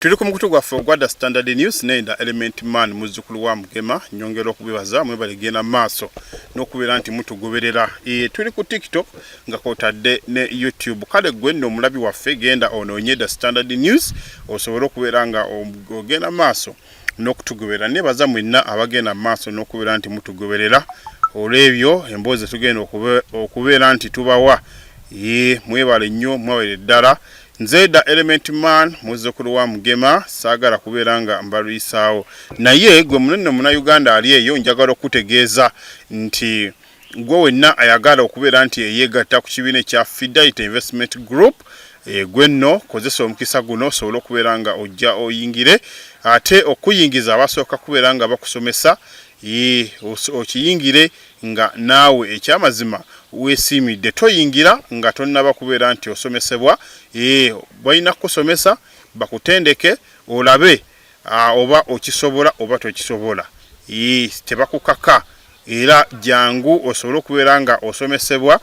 Tuli ku mukutu gwaffe ogwa The Standard News naye nda Element Man muzzukulu wa Mugema nyongera okubibaza mwebale genda maaso n'okubeera nti mutugoberera e, tuli ku TikTok nga kwotadde ne YouTube kale gwe nno omulabi waffe genda onoonye The Standard News osobole okubeera nga ogenda maaso n'okutugoberera nebaza mwenna abagenda maaso n'okubeera nti mutugoberera olw'ebyo emboozi tugenda okubeera nti tubawa e, mwebale nnyo mwebale ddala e, Nze da element man muzzukulu wa Mugema saagala kubeera nga mbalwisaawo naye gwe munene muna Uganda ali eyo njagala okukutegeeza nti gwe wenna ayagala okubeera nti eyeegatta ku kibiina ekya Fidelity Investment Group e, gwe nno kozesa omukisa guno osobole okubeera nga ojja oyingire ate okuyingiza abasooka kubeera nga bakusomesa Yii okiyingire nga naawe ekyamazima wesiimidde toyingira nga tonnaba kubeera nti osomesebwa eeh balina kukusomesa bakutendeke olabe aah oba okisobola oba tokisobola yii tebakukaka era jangu osobole okubeera nga osomesebwa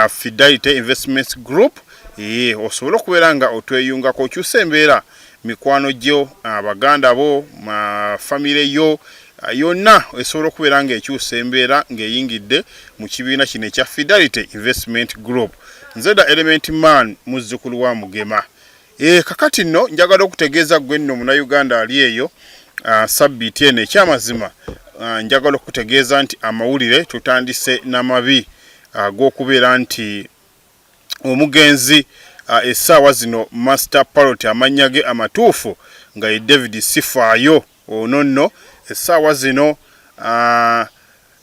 Fidelity Investments Group eeh osobole okubeera nga otweyungako okyuse embeera mikwano gyo abaganda bo famire yo yonna esobola okubeera ng'ekyusa embeera ng'eyingidde mu kibiina kino ekya fidelity investment group nze da element man muzzukulu wa mugema e, kakati nno njagala okutegeeza gwe nno munauganda ali eyo ah, sabbiiti eno ekyamazima ah, njagala okutegeeza nti amawulire tutandise n'amabi ag'okubeera ah, nti omugenzi essaawa zino master parot amannya ge amatuufu nga ye david sifaayo ono nno essaawa zino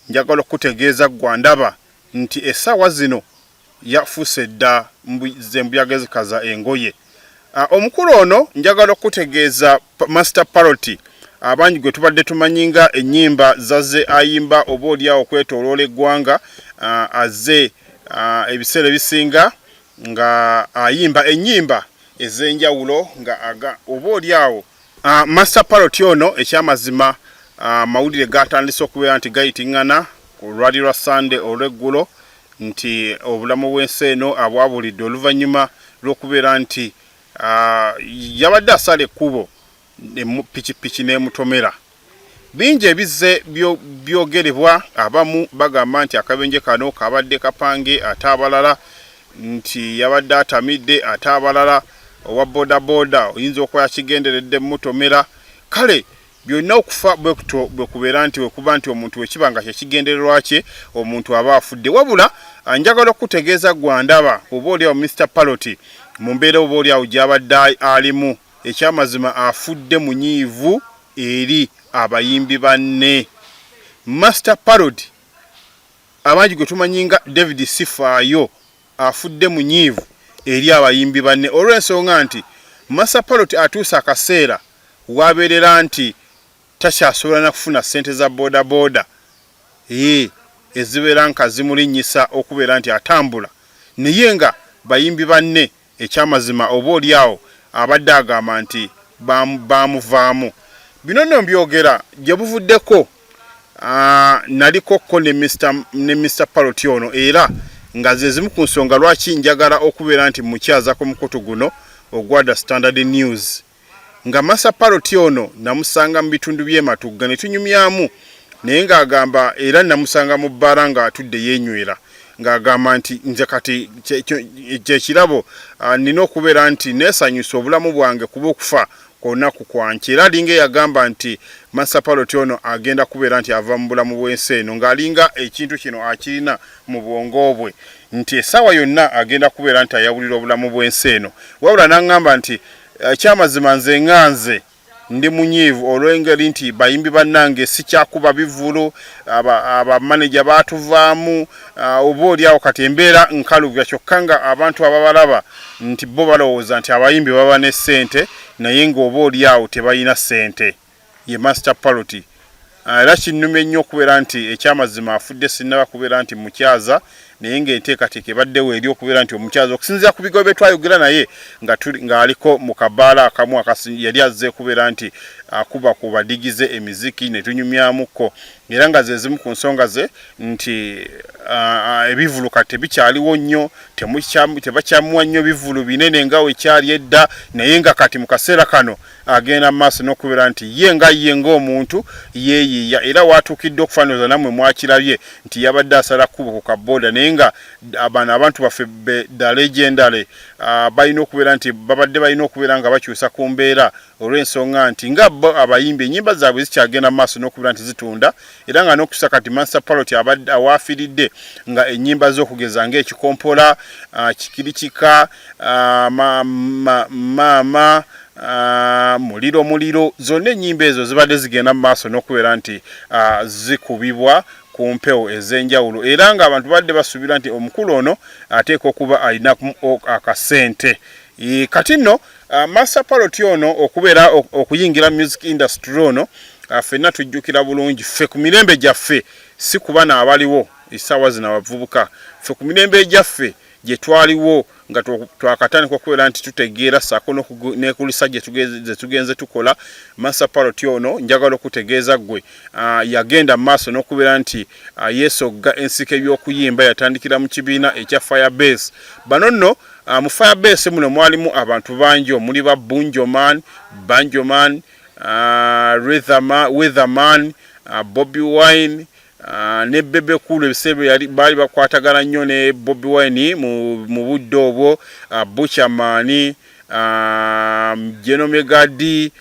njagala okukutegeeza gwandaba nti essaawa zino yafuuse dda zembuyaga ezikaza engoye Ah, omukulu ono njagala okutegeeza master paroti abangi gwe tubadde tumanyi nga ennyimba zaze ayimba oba olyawo okwetoloola eggwanga ah, aze ah, ebiseera ebisinga nga ayimba ennyimba ez'enjawulo nga oba olyawo Uh, Master Parrot ono ekyamazima amawulire ah, uh, gatandise okubeera nti gayitingana olwali lwa Sunday olweggulo nti obulamu bw'ensi eno abwabulidde oluvannyuma lw'okubeera nti uh, yabadde asala ekkubo pikipiki n'emutomera Bingi ebizze byogerebwa, abamu bagamba nti akabenje kano kabadde kapange ate abalala nti yabadde atamidde ate abalala owa bodaboda oyinza okuba yakigenderedde mutomera kale byonna okufa bwekutyo bwekubeera nti wekuba nti omuntu wekiba nga kyekigendererwa kye omuntu aba afudde wabula njagala okukutegeeza gwandaba oba oliawo Mr Paloti mu mbeera oba oliawo gyabadde alimu Ekyamazima afudde munyiivu eri abayimbi banne. Master Parody abangi gwe tumanyi nga David Sifaayo afudde munyiivu eri abayimbi banne olw'ensonga nti Master Parody atuuse akaseera w'abeerera nti takyasobola na kufuna ssente za bodaboda ee ezibeera nka zimulinnyisa okubeera nti atambula naye nga bayimbi banne Ekyamazima oba oli awo abadde agamba nti baamuvaamu. Bino nno mbyogera gye buvuddeko nalikokko ne Mister Parrot ono era nga ze zimu ku nsonga lwaki njagala okubeera nti mmukyazako mukutu guno ogwa The Standard News. nga masa paroti ono namusanga mu bitundu byematugga ne tunyumyamu naye ng'agamba era namusanga mu bbaala ng'atudde yeenywera ng'agamba nti nze kati kyekirabo ah, nina okubeera nti neesanyusa obulamu bwange kuba okufa kwolunaku kwanki era alinga eyagamba nti masapaloti ono agenda kubeera nti ava mu bulamu bw'ensi eno ng'alinga ekintu kino akirina mu bwongo bwe nti essaawa yonna agenda kubeera nti ayawulira obulamu bw'ensi eno wabula n'aŋŋamba nti ekyamazima nze nga nze ndi munyiivu olw'engeri nti bayimbi bannange sikyakuba bivulu abamaneja baatuvaamu oba oli awo kati embeera nkalubya kyokka nga abantu ababalaba nti bo balowooza nti abayimbi baba ne ssente naye ng'oba oli awo tebalina ssente ye Master Paroti ah, era kinnumye nnyo okubeera nti ekyamazima afudde sinnaba kubeera nti mukyaza naye ng'enteekateeka ebaddewo eri okubeera nti omukyaza okusinziira ku bigobe twayogera naye ng'aliko mu kabaala akamu yali azze kubeera nti akuba ku badigize emiziki ne tunyumyamuko era nga ze zimu ku nsonga ze nti ebivuluka tebikyaliwo nnyo tebakyamuwa nnyo bivulu binene nga wekyali edda naye nga kati mu kaseera kano agenda mu maaso n'okubeera nti ye nga ye ng'omuntu yeeyiiya era waatuukidde okufaaniriza nammwe mwakirabye nti yabadde asala kkubo ku kabbooda naye nga bano abantu baffe be the legendary ah, balina okubeera nti babadde balina okubeera nga bakyusa ku mbeera olw'ensonga nti nga bo abayimbi ennyimba zaabwe zikyagenda mu maaso n'okubeera nti zitunda era nga n'okusa kati mansa palot abadde awaafiridde nga ennyimba z'okugeza ng'ekikompola ah, kikirikika Ah, ma, ma, ma, ma, ah, muliro muliro zonna ennyimba ezo zibadde zigenda mu maaso n'okubeera nti ah, zikubibwa ku mpewo ez'enjawulo era ng'abantu badde basuubira nti omukulu ono ateekwa okuba alina akasente e, kati nno ah, master paloti ono okubeera okuyingira music industry ono ah, fenna tujjukira bulungi ffe ku mirembe gyaffe si kuba naabaliwo essaawa zino abavubuka ffe ku mirembe egyaffe gye twaliwo nga twakatandika okubeera nti tutegeera saako nekulisa zetugenze tukola masa paroti ono njagala okutegeeza gwe ah, yagenda maaso n'okubeera nti ah, yesogga ensiko ebyokuyimba yatandikira mu kibiina ekya fire base bano nno ah, mu fire base muno mwalimu abantu bangi omuli ba bunjoman banjoman weatherman bobi wine Ah, ne Bebe Cool ebiseera yali baali bakwatagana nnyo ne Bobi Wine mu budde obwo ah, Butcher Maani ah, Geno Megadi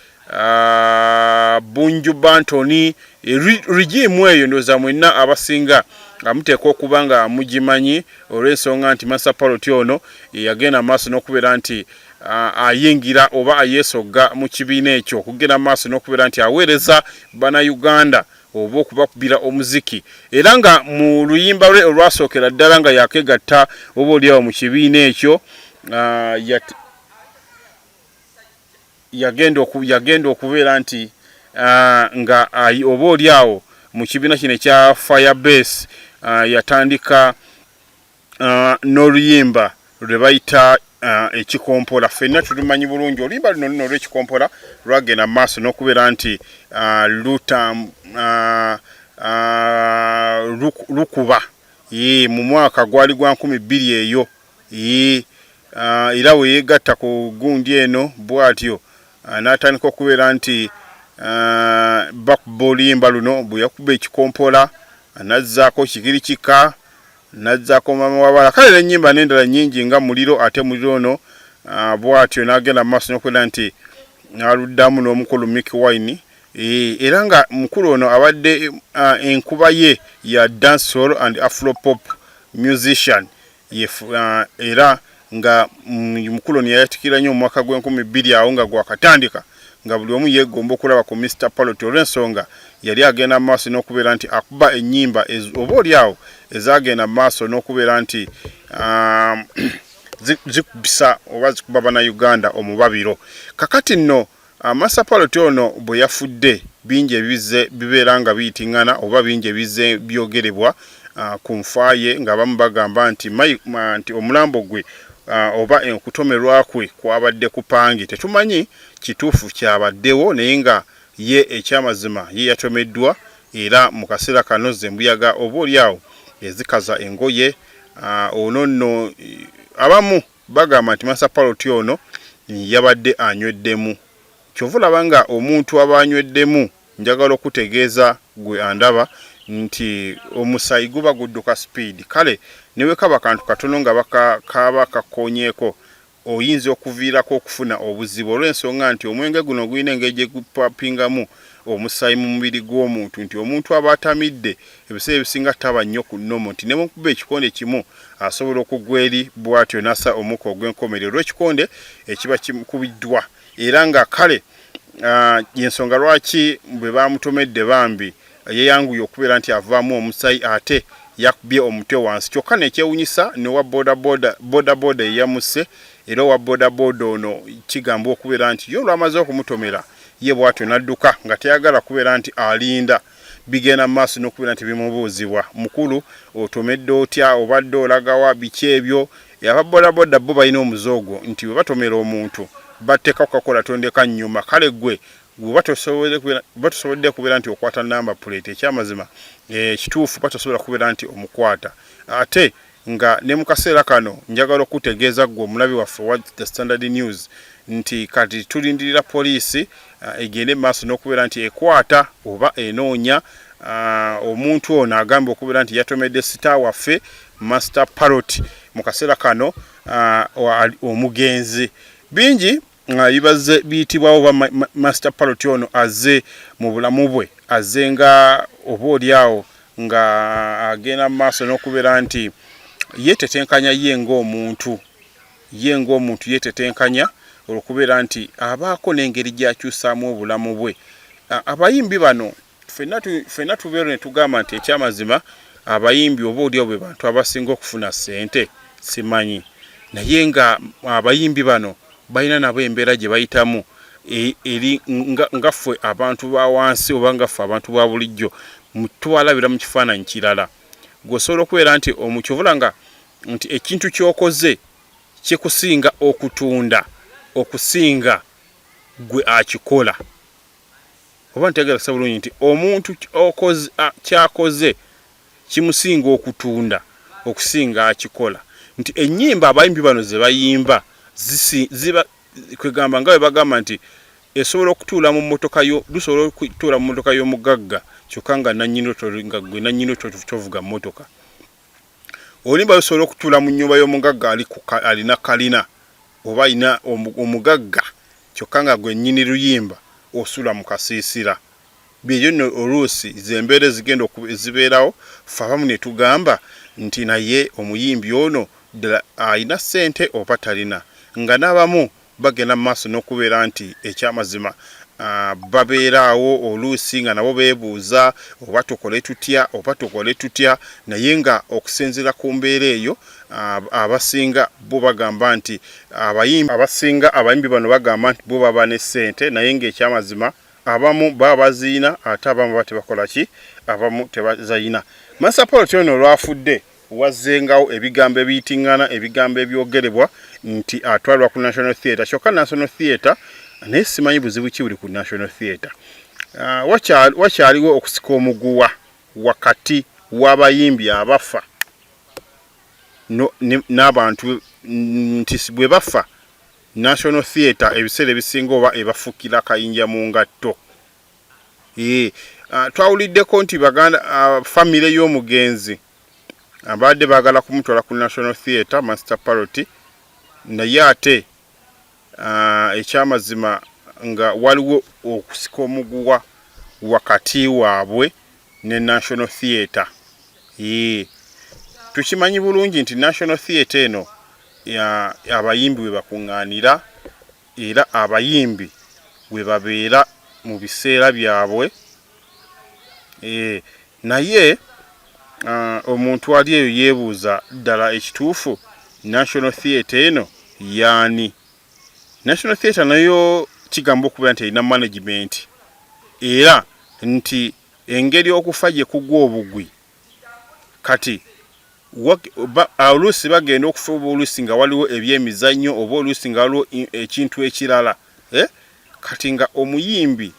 Bunju Bantoni e, rigimu eyo ndooza mwenna abasinga amuteeka okuba nga mugimanyi olw'ensonga nti Masa Paloti ono yagenda maaso n'okubeera nti ayingira oba ayeesogga mu kibiina ekyo okugenda maaso n'okubeera nti aweereza bana Uganda oba okubakubira omuziki era nga mu luyimba lwe olwasookera ddala nga yakegatta oba olyawo mu kibiina ekyo ah, yagenda okubeera nti ah, nga oba olyawo mu kibiina kino ekya fire base ah, yatandika uh, n'oluyimba lwe bayita uh, ekikompola fenna tulumanyi bulungi oluyimba luno luno olw'ekikompola lwagenda mu maaso n'okubeera nti uh, lukuba mu mwaka gwali gwa nkumi bbiri eyo era weyegatta ku gundi eno bwatyo n'atandika okubeera nti bakuba oluyimba luno bwe yakuba ekikompola anazzaako kigiri kika Nazzako maama wabala kale nenyimba nendala nyingi nga muliro ate muliro ono ah, bwatyo nagenda mumaaso nokwenda nti aluddamu nomukulu Mick Wine eh, era nga mukulu ono abadde ah, enkuba ye ya dancehall and afropop musician ah, era nga mm, mukuloni yayatikira nnyo omwaka gw'enkumi bbiri awo nga gwakatandika nga buli omu yeegomba okulaba ku Mr Paloti olw'ensonga yali agenda mu maaso n'okubeera nti akuba ennyimba oba oli awo ezaagenda mu maaso n'okubeera nti um, zikubisa oba zikuba bana Uganda omubabiro kakati nno Amasapaloti ono bwe yafudde bingi ebizze bibeera nga biyitingana oba bingi ebizze byogerebwa ku nfa ye ng'abamu bagamba nti nti omulambo gwe oba okutomerwa kwe kwabadde kupange tetumanyi kituufu kyabaddewo naye nga ye ekyamazima ye yatomeddwa era mu kaseera kano zembuyaga oba oli awo ezikaza engoye ono nno abamu Bagamba nti Master Parrot ono yabadde anyweddemu. Kyova olaba nga omuntu aba anyweddemu njagala okukutegeeza gwe andaba nti omusayi guba gudduka speed kale newekaba kantu katono nga kaba kakonyeko oyinza okuviirako okufuna obuzibu olwensonga nti omwenge guno gulina engeri gyegupapingamu omusayi mu mubiri gwomuntu nti omuntu aba atamidde ebiseera ebisinga taba nnyo ku nnomu nti ne mu kuba ekikonde kimu asobola okugwa eri bw'atyo n'assa omukka ogw'enkomerero olw'ekikonde ekiba kikubiddwa era nga kale ah, y'ensonga lwaki bwe baamutomedde bambi yeeyanguye okubeera nti avaamu omusayi ate yakubye omutwe wansi kyokka nekyewunyisa nowa bodaboda eyamusse era owa bodaboda ono kigamba okubeera nti ye olwamaze okumutomera ye bwatyo nadduka nga teyagala kubeera nti alinda bigenda mu maaso n'okubeera nti bimubuuzibwa mukulu otomedde otya obadde olagawa biki ebyo aba bodaboda bo balina omuze ogwo nti bwe batomera omuntu batteeka kukakola tondeka nnyuma kale gwe gwoba tosobodde kubeera nti okwata namba puleeti ekyamazima ekituufu eh, batosobola kubeera nti omukwata ate nga ne mu kaseera kano njagala okukutegeeza ggwe omulabi waffe wa The Standard News nti kati tulindirira poliisi uh, egende mu maaso n'okubeera nti ekwata oba enoonya Ah, omuntu ono agamba okubeera nti yatomedde sita waffe master parot mu kaseera kano ah, omugenzi bingi nga bibazze biyitibwawo oba master palot ono azze mu bulamu bwe azze nga oba oli awo nga agenda mu maaso n'okubeera nti yeetetenkanya ye ng'omuntu ye ng'omuntu yeetetenkanya olwokubeera nti abaako n'engeri gy'akyusaamu obulamu bwe abayimbi bano ffenna tubeera ne tugamba nti ekyamazima abayimbi oba olyawo be bantu abasinga okufuna ssente simanyi naye nga abayimbi bano balina nabo embeera gye bayitamu e, eri nga ffe abantu ba wansi oba nga ffe abantu ba bulijjo tubalabira mu kifaananyi kirala gweosobola okubeera nti omukyovula nga nti ekintu kyokoze kikusinga okutunda okusinga gwe akikola oba ntegera sa bulungi nti omuntu kyakoze kimusinga okutunda okusinga akikola nti enyimba abayimbi bano zebayimba kwegamba nga webagamba nti esobola okutuula mu motoka yo lusobola okutuula mu motoka y'omugagga kyokka nga nanyini nga gwe nanyini kyovuga motoka olimba lusobola okutuula mu nyumba y'omugagga alina kalina oba alina omugagga kyokka nga gwe nnyini luyimba osula mu kasiisira byebyo nno oluusi zembeera ezigenda ezibeerawo fe abamu ne tugamba nti naye omuyimbi ono ddala alina ssente oba talina nga n'abamu bagenda mu maaso n'okubeera nti ekyamazima babeeraawo oluusi nga nabo beebuuza oba tukole tutya oba tukole tutya naye nga okusinziira ku mbeera eyo abasinga bo bagamba nti abayimbi abasinga abayimbi bano bagamba nti bo baba ne ssente naye ng'ekyamazima abamu baba baziyina ate abamu baba tebakola ki abamu tebazayina Master Paul Tyono olwafudde Wazzengawo ebigambo ebiyiting'ana ebigambo ebyogerebwa nti atwalibwa ku National Theatre kyokka National Theatre naye simanyi buzibu ki buli ku National Theatre. Ah, wakyaliwo okusika omuguwa wakati w'abayimbi abafa n'abantu nti bwe bafa National Theatre ebiseera ebisinga oba ebafukira kayinja mu ngatto Eh, ah, twawuliddeko nti baganda ah, famire y'omugenzi abaadde baagala kumutwala ku national theatre master parot naye ate ah, ekyamazima nga waliwo okusika omuguwa wakati waabwe ne national theatre eh, tukimanyi bulungi nti national theatre eno abayimbi we bakuŋŋaanira era abayimbi webabeera mu biseera byabwe eh, naye uh, omuntu ali eyo yebuuza ddala ekituufu national theatre eno yaani national theatre nayo kigamba okubeera nti erina management era nti engeri okufa gye kugwa obugwi kati oluusi bagenda okufa oba oluusi nga waliwo ebyemizannyo oba oluusi nga waliwo ekintu ekirala eh? kati nga omuyimbi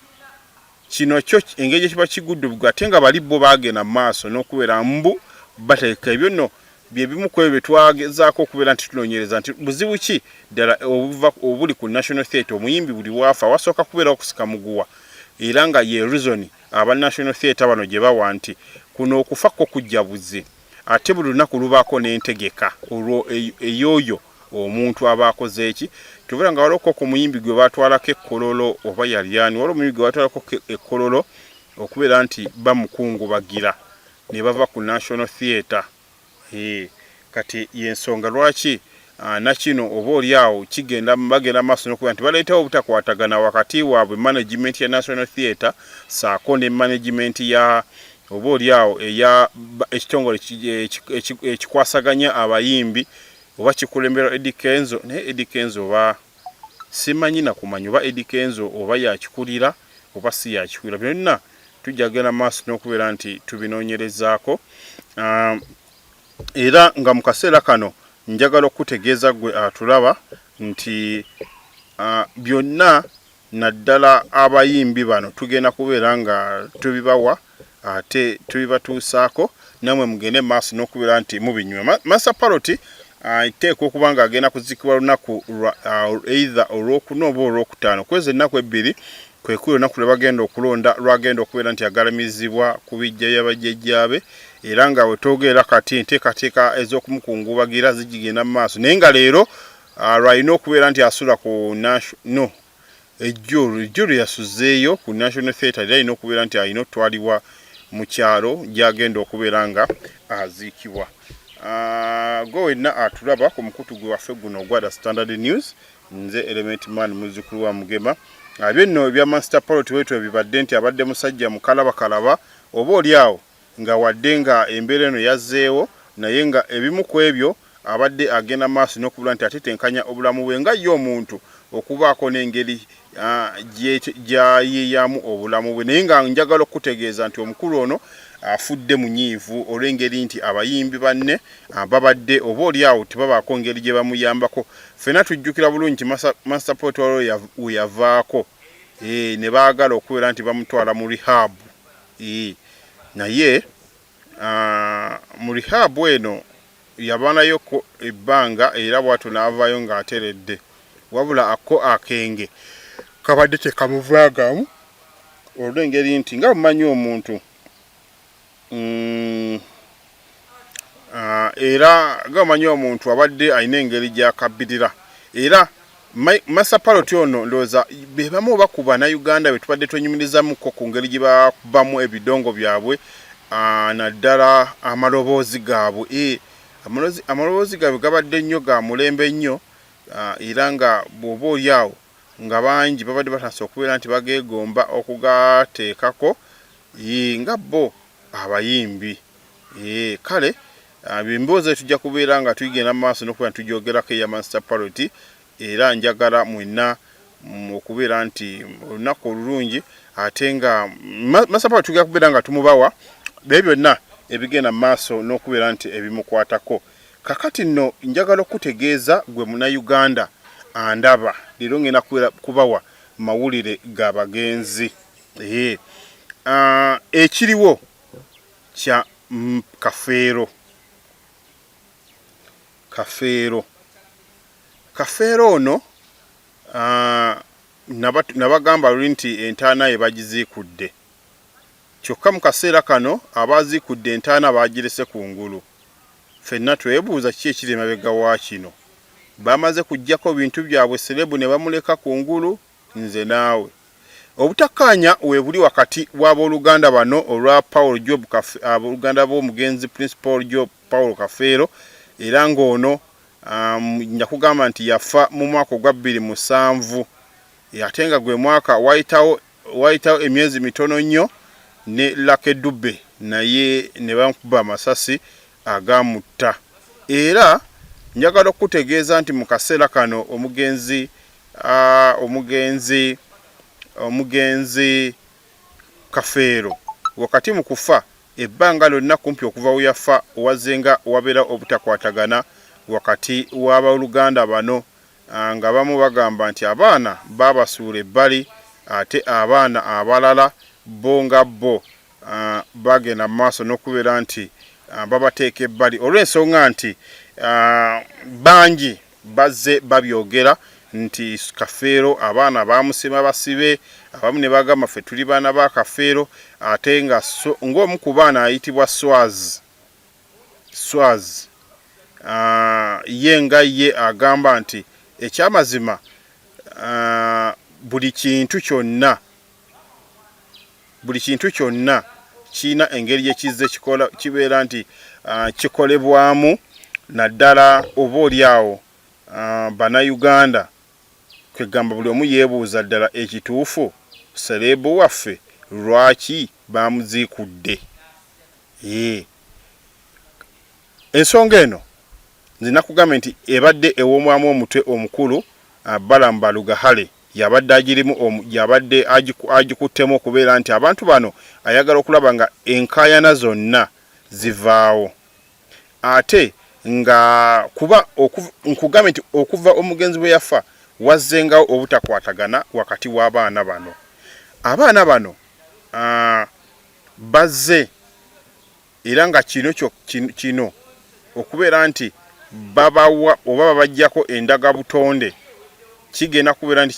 kino kyo engeri gyekiba kiguddubgu ate nga bali bo bagenda mu maaso n'okubeera mbu bateeka ebyo nno byebimu ku ebyo byetwagezaako okubeera nti tunoonyereza nti buzibu ki ddala obuli ku national theatre omuyimbi buli waafa wasooka kubeera okusika muguwa era nga ye rizoni aba National Theatre bano gye bawa nti kuno okufa kwo kujja buzzi ate buli lunaku lubaako n'entegeka olwo e-, eyooyo omuntu aba akoze eki kyobera nga waloko ku muyimbi gwe batwalako ekkololo oba yalyani waliwo omuyimbi gwe batwalako ekkololo okubeera nti bamukungubagira ne bava ku National Theatre Hee kati yensonga lwaki ah, nakino oba oli awo kigenda bagenda maaso nokuba nti baleetawo obutakwatagana wakati waabwe management ya National Theatre saako ne management ya oba oli awo eya ekitongole ekikwasaganya abayimbi oba kikulemberwa Eddie Kenzo naye Eddie Kenzo oba simanyi nakumanya oba Eddy Kenzo oba yakikulira oba si yakikulira. Bino byonna tujja kugenda maaso n'okubeera nti tubinoonyerezaako era nga mu kaseera kano njagala okukutegeeza ggwe atulaba nti byonna naddala abayimbi bano tugenda kubeera nga tubibawa ate tubibatuusaako namwe mugende maaso n'okubeera nti mubinyuma Master Parrot iteekwa okuba nga agenda kuzikibwa lunaku either olwokuna oba olwokutaano kwezi ennaku ebbiri kwekuli olunaku lwe bagenda okulonda lwagenda okubeera nti agalamizibwa ku bijja bya bajjajjaabe era nga wetwogerera kati enteekateeka ez'okumukungubagira zigigenda mu maaso naye nga leero Ah, lwalina okubeera nti asula ku no ejjulu ejjulu yasuzeeyo ku national theatre era alina okubeera nti alina okutwalibwa mu kyalo gyagenda okubeera nga aziikibwa ah, gwe wenna atulaba ku mukutu gwe waffe guno ogwa the standard news nze element man muzukulu wa mugema abye ah, nno ebya master polo tiwetwe bibadde nti abadde musajja mukalabakalaba oba oli awo nga wadde nga embeera eno yazzeewo naye nga ebimu kwebyo abadde agenda maaso n'okubula nti atetenkanya obulamu bwe nga ye omuntu okubaako n'engeri gyayiiyaamu obulamu bwe naye nga njagala okukutegeeza nti omukulu ono afudde munyiivu olw'engeri nti abayimbi banne babadde oba oli awo tebabaako ngeri gyebamuyambako ffena tujjukira bulungi nti Master Pot waliwo weyavaako ne baagala okubeera nti bamutwala mu Rehab Ii, Naye uh, mu rehab eno yabanayoko ebbanga era bwatyo n'avaayo ng'ateredde wabula akko akenge kabadde tekamuvaagamu olw'engeri nti nga mumanyi omuntu mm, Ah, era nga omanyi omuntu abadde alina engeri gyakabirira era masapaloti ono ndowooza bebamu oba ku banauganda be tubadde twenyumirizamuko ku ngeri gye bakubamu ebidongo byabwe ah, naddala amaloboozi gaabwe eh, amaloboozi gaabwe gabadde nnyo ga mulembe nnyo ah, era nga bwoba oli awo nga bangi babadde batasa okubeera nti bageegomba okugateekako nga bo abayimbi ee kale emboozi eyo tujja kubeera nga tuyigenda mu maaso n'okubeera nti tugyogerako eya mansita paroti era njagala mwenna mm, okubeera nti olunaku olulungi ate nga mansita paroti tugenda kubeera nga tumubawa bye byonna ebigenda mu maaso n'okubeera nti ebimukwatako kakati nno njagala okukutegeeza gwe munayuganda andaba leero ngenda kubawa mawulire ga bagenzi Eh, ah, ekiriwo kya mm, kafeero kafeero kafeero ono ah, nabagamba luli nti entaana ye bagiziikudde kyokka mu kaseera kano abaaziikudde entaana baagirese ku ngulu fenna twebuuza ki ekiri emabega wa kino bamaze kujjako bintu byabwe serebu ne bamuleka ku ngulu Nze naawe. Obutakkaanya weebuli wakati w'abooluganda bano olwa Paul Job Kafe, abooluganda b'omugenzi Prince Paul Job Paul Kafeero era ng'ono um, njakugamba nti yafa mu mwaka ogwa bbiri musanvu ate nga gwe mwaka wayitawo wayitawo emyezi mitono nnyo ne Lucky Dube naye ne bamukuba amasasi agaamutta era njagala okukutegeeza nti mu kaseera kano omugenzi omugenzi omugenzi kafeero wakati mu kufa ebbanga lyonna kumpi okuva we yafa wazenga wabeera obutakwatagana wakati w'abaluganda bano ah, nga bamu bagamba nti abaana baabasuula ebbali ate abaana abalala bo nga bo bagenda mu maaso n'okubeera nti babateeka ebbali olw'ensonga nti bangi bazze babyogera nti kafeero abaana baamusima basibe abamu ne bagamba ffe tuli baana ba kafeero ate nga ng'omu ku baana ayitibwa swaz swaz ye nga ye agamba nti ekyamazima buli kintu kyonna buli kintu kyonna kirina engeri gye kizze kikola kibeera nti uh, kikolebwamu naddala oba oli awo uh, bannayuganda kwegamba buli omu yeebuuza ddala ekituufu sereebu waffe lwaki baamuziikudde ee ensonga eno nze nakugambye nti ebadde ewomwamu omutwe omukulu uh, balamu balugahale yabadde agirimu yabadde agikuttemu okubeera nti abantu bano ayagala okulaba nga enkaayana zonna zivaawo ate nga kuba nkugambye nti okuva omugenzi bwe yafa wazzengawo obutakwatagana wakati w'abaana bano abaana bano bazze era nga kino kino okubeera nti babawa oba babajjako endaga butonde kigenda kubeera nti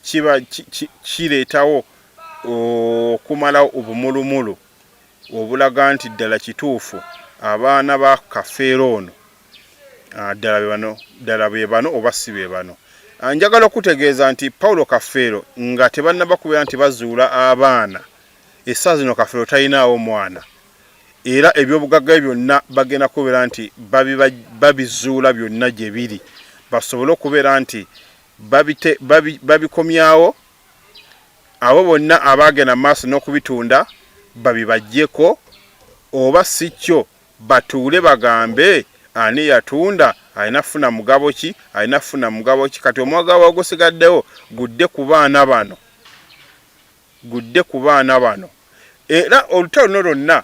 kiba kireetawo okumalawo obumulumulu obulaga nti ddala kituufu abaana ba kafeero ono ah, ddala bebano ddala bebano oba si bebano ah, njagala okutegeeza nti paulo kafeero nga tebannaba kubeera nti bazuula abaana Essaa zino kafeero talinaawo mwana era ebyobugagga bye byonna bagenda kubeera nti babizuula byonna gye biri basobole okubeera nti babikomyawo abo bonna abaagenda maaso n'okubitunda babibajjeko oba si kyo batuule bagambe ani yatunda alina kufuna mugabo ki alina kufuna mugabo ki kati omwagawa ogusigaddewo gudde ku baana bano gudde ku baana bano era olutalo luno lwonna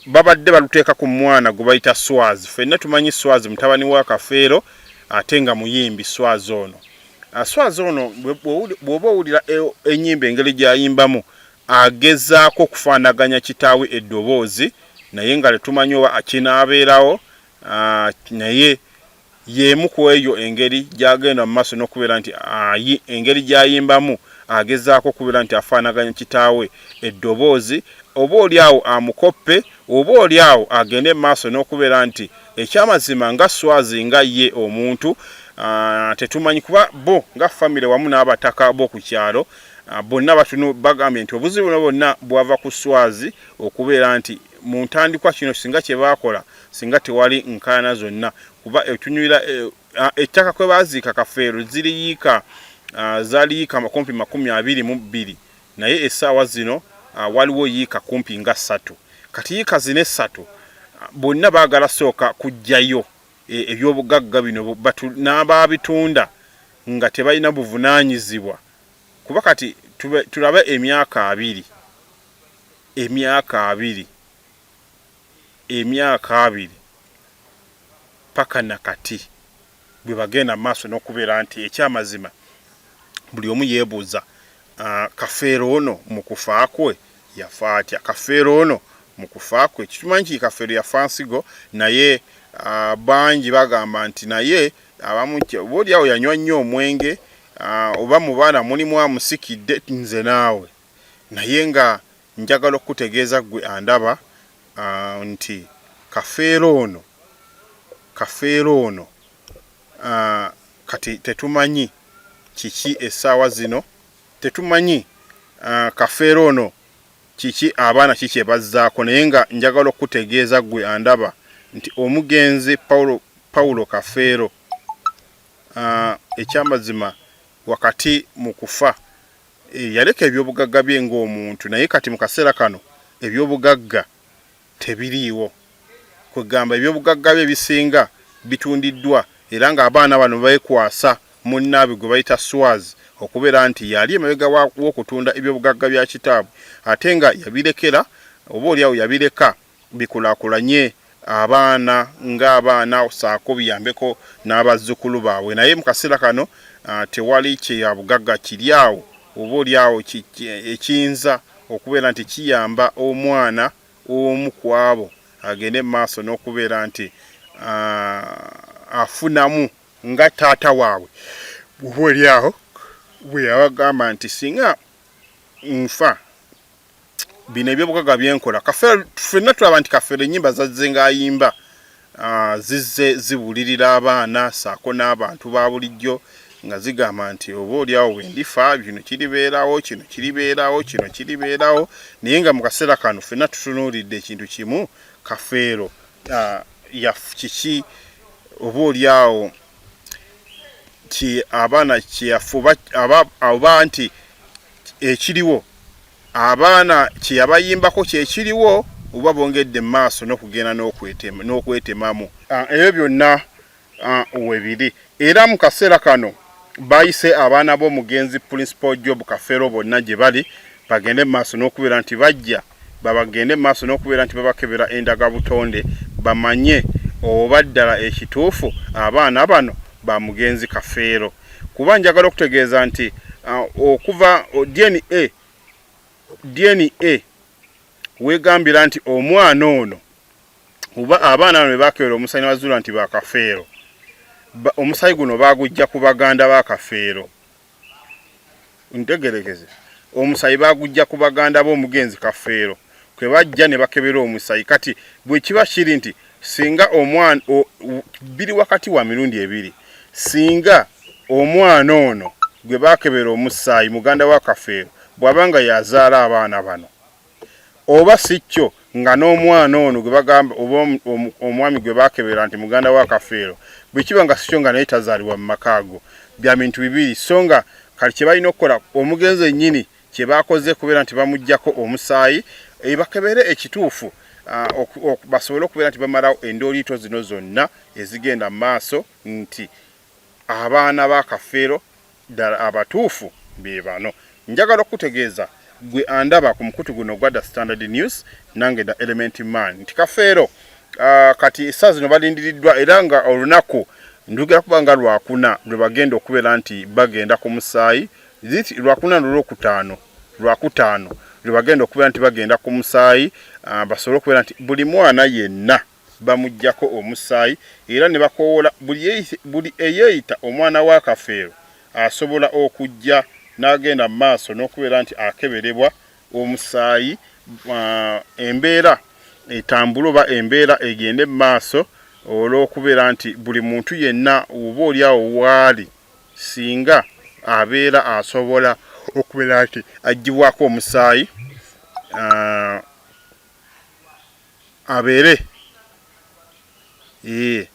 babadde baluteeka ku mwana gwe bayita Swaz. Fenna tumanyi Swaz mutabani wa Kafeero ate nga muyimbi Swaz ono. Ah, Swaz ono bw'oba owulira e, ennyimba engeri gy'ayimbamu agezaako okufaanaganya kitaawe eddoboozi naye nga tetumanyi oba kinaabeerawo ah, naye Y'emu ku eyo engeri gy'agenda mu maaso n'okubeera nti ayi, engeri gy'ayimbamu agezaako okubeera nti afaanaganya kitaawe eddoboozi, oba oli awo amukoppe, oba oli awo agende mu maaso n'okubeera nti eky'amazima nga Swazi nga ye omuntu tetumanyi kuba bo nga famire wamu n'abataka b'oku kyalo bonna batunu bagambye nti obuzibu buno bwonna bwava ku Swazi okubeera nti mu ntandikwa kino singa kye baakola singa tewali nkaana zonna kuba etunyuira eh, ah, ettaka kwe baaziika kafeero ziriyiika ah, zaliyiika makumpi makumi abiri mu bbiri naye essaawa zino ah, waliwo yiika kumpi nga ssatu kati yiika zina essatu bonna baagala sooka kujjayo eh, ebyobugagga bino n'abaabitunda nga tebalina buvunaanyizibwa kuba kati tulabe emyaka abiri emyaka abiri emyaka abiri paka nakati bwebagenda mumaaso nokubeera nti ekyamazima buli omu yebuuza Kafeero ono mukufa kwe yafa atya? Kafeero ono mukufa kwe tukimanyi nti Kafeero yafa nsigo naye bangi bagamba nti naye abamu oba oli awo yanywa nnyo omwenge oba mubaana mulimu amusikidde nze naawe naye nga Njagala okukutegeeza ggwe andaba nti Kafeero ono, Kafeero ono kati tetumanyi kiki essaawa zino, tetumanyi Kafeero ono kiki abaana ki kye bazzaako naye nga njagala okukutegeeza ggwe andaba nti omugenzi Paulo, Paulo Kafeero ekyamazima wakati mu kufa. Eh, yaleka ebyobugagga bye ng'omuntu naye kati mu kaseera kano ebyobugagga tebiriiwo kwegamba ebyobugagga bye ebisinga bitundiddwa era ng'abaana bano beekwasa munnaabwe gwe bayita Swaz okubeera nti yali emabega w'okutunda ebyobugagga bya kitaabwe ate nga yabirekera oba olyawo yabireka bikulakulanye abaana nga abaana saako biyambeko n'abazzukulu baabwe naye mu kaseera kano ah, tewali kyeyabugagga kiri awo oba oli awo ekiyinza okubeera nti kiyamba omwana omu ku abo agende mu maaso n'okubeera nti ah, afunamu nga taata waabwe oba oli awo bwe yabagamba nti singa nfa bino ebyobugaga byenkola kafeero ffenna tulaba nti kafeero enyimba zazze ngaayimba ah, zizze zibulirira abaana saako n'abantu ba bulijjo nga zigamba nti oba olyawo bwendifa kino kiribeerawo kino kiribeerawo kino kiribeerawo naye nga mu kaseera kano ffenna tutunuulidde ekintu kimu kafeero ah, kiki oba olyawo nti abaana kyeyafuba oba nti ekiriwo abaana kyeyabayimbako kyekiriwo oba bongedde mu maaso n'okugenda n'okwetemamu ah, ebyo byonna ah, webiri era mu kaseera kano bayise abaana b'omugenzi principal job kafeero bonna gye bali bagende mu maaso n'okubeera nti bajja babagende mu maaso n'okubeera nti babakebera endagabutonde bamanye oba ddala ekituufu abaana bano ba mugenzi Kafeero kuba njagala okutegeeza nti uh, okuva DNA, DNA wegambira nti omwana ono oba abaana bano bebakebera omusayi nebazuula nti bakafeero omusayi guno bagujja ku baganda bakafeero ntegerekeze omusayi bagujja ku baganda bo omugenzi kafeero kwe bajja ne bakebera omusayi kati bwe kiba kiri nti singa omwana biri wakati wa mirundi ebiri singa omwana ono gwe bakebera omusaayi muganda wa kafeero bw'aba nga yazaala abaana bano Oba si kyo nga n'omwana ono gwe bagamba oba omwami gwe baakebera nti muganda wa Kafeero bwe kiba nga si kyo nga naye tazaalibwa mu maka ago. Bya bintu bibiri so nga kati kye balina okukola omugenzi yennyini kye baakoze kubeera nti bamuggyako omusaayi bakebere ekituufu basobole okubeera nti bamalawo endooliito zino zonna ezigenda mu maaso nti Abaana ba Kafeero ddala abatuufu be bano. Njagala okukutegeeza ggwe andaba ku mukutu guno ogwa The Standard News, nange The Element Man, nti Kafeero kati essaawa zino balindiriddwa era nga olunaku ndugera kuba nga Lwakuna lwe bagenda okubeera nti bagenda ku musaayi. This Lwakuna n'Olwokutaano, Lwakutaano lwe bagenda okubeera nti bagenda ku musaayi basobole okubeera nti buli mwana yenna. bamuggyako omusaayi era ne bakoowoola buli eyeeyita omwana wa Kafeero asobola okujja n'agenda mu maaso n'okubeera nti akeberebwa omusaayi embeera etambule oba embeera egende mu maaso olw'okubeera nti buli muntu yenna oba oli awo waali singa abeera asobola okubeera nti aggyibwako omusaayi abeere ee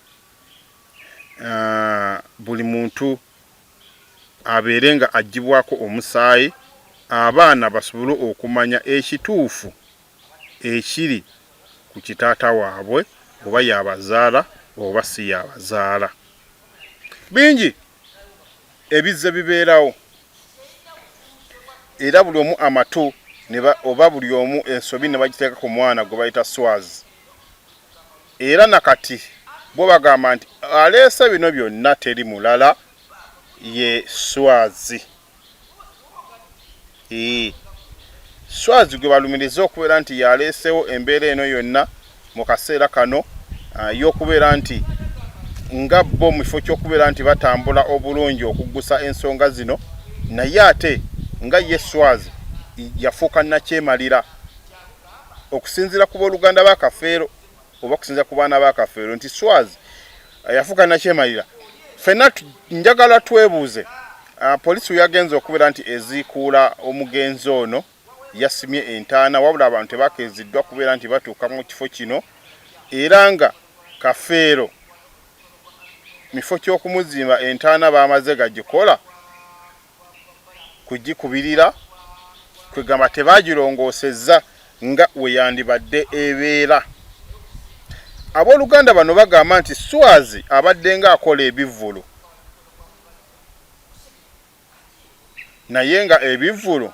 ah, buli muntu abeere nga agibwako omusaayi abaana basobole okumanya ekituufu ekiri ku kitaata waabwe oba yabazaala oba si yabazaala bingi Ebizze bibeerawo era buli omu amatu oba buli omu ensobi ne bagiteeka ku mwana gwe bayita Swazi. Era na kati bo bagamba nti aleese bino byonna teri mulala ye Swazi. Ii, Swazi gwe balumiriza okubeera nti y'aleesewo embeera eno yonna mu kaseera kano ah, y'okubeera nti nga bo mu kifo ky'okubeera nti batambula obulungi okuggusa ensonga zino naye ate nga ye Swazi yafuuka nakyemalira okusinziira ku booluganda ba Kafeero oba kusinza ku baana ba kafeero nti swaz eh, yafuuka nakyemalira fenna njagala twebuuze ah, poliisi weyagenze okubeera nti eziikuula omugenzi ono yasimye entaana wabula abantu tebakeeziddwa kubeera nti batuuka mu kifo kino era nga kafeero mifo kyokumuzimba entaana bamaze gagikola kugikubirira kwegamba tebaagirongoosezza nga weyandibadde ebeera. Abooluganda bano bagamba nti Swazi abaddenga akola ebivvulu naye nga ebivvulu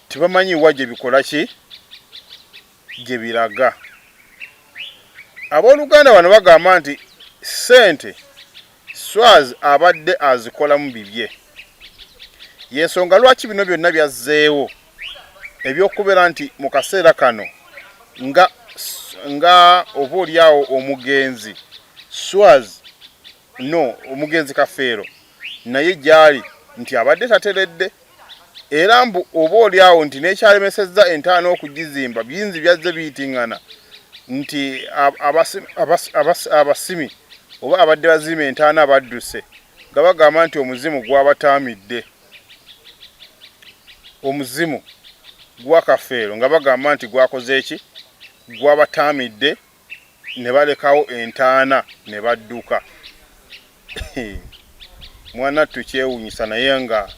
tebamanyi wa gye bikola ki gye biraga. Abooluganda bano bagamba nti ssente Swaz abadde azikolamu bibye y'ensonga lwaki bino byonna byazzeewo eby'okubeera nti mu kaseera kano nga nga oba olyawo omugenzi Swaz no omugenzi kafeero naye gyali nti abadde tateredde era mbu oba oli awo nti nekyalemesezza entaana okugizimba binzi byazze biyitingana nti abasimi oba abadde bazima entaana badduse nga bagamba nti omuzimu gwabataamidde omuzimu gwa kafeero nga bagamba nti gwakoze eki gwabataamidde ne balekawo entaana ne badduka. Mwanattu kyewunyisa naye nga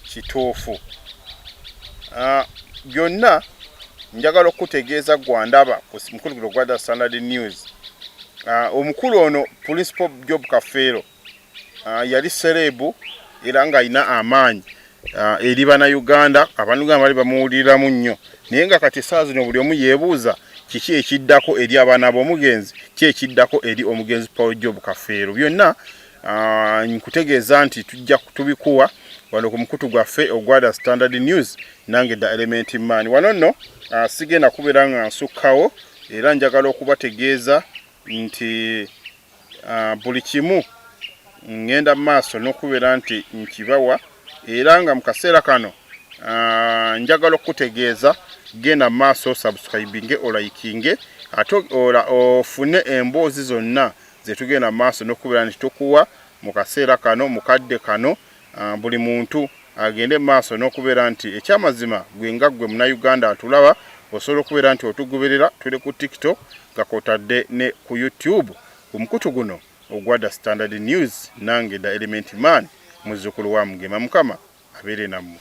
kituufu. Ah, byonna njagala okukutegeeza gwandaba ku mukulu guno gwa The Standard News. Ah, omukulu ono Principal Job Kafeero Ah, yali sereebu era ng'alina amaanyi ah, eri bannayuganda abantu nga bali bamuwuliramu nnyo naye nga kati esaawa zino buli omu yeebuuza kiki ekiddako eri abaana b'omugenzi ki ekiddako eri omugenzi paul job kafeero byonna ah, nkutegeeza nti tujja tubikuwa wano ku mukutu gwaffe ogwada standard news nange dda element man wano nno sigenda kubeera nga nsukkawo era njagala okubategeeza nti buli kimu ngenda mu maaso n'okubeera nti nkibawa era nga mu kaseera kano njagala okukutegeeza genda mu maaso subscribinge olayikinge ate ofune emboozi zonna zetugenda mu maaso n'okubeera nti tukuwa mu kaseera kano mu kadde kano Ah, buli muntu agende maaso n'okubeera nti ekyamazima gwe nga gwe munayuganda atulaba osobola okubeera nti otugoberera tuli ku tiktok nga kotadde ne ku youtube ku mukutu guno ogwada standard news nange da element man muzukulu wa mugema mukama abeere nammwe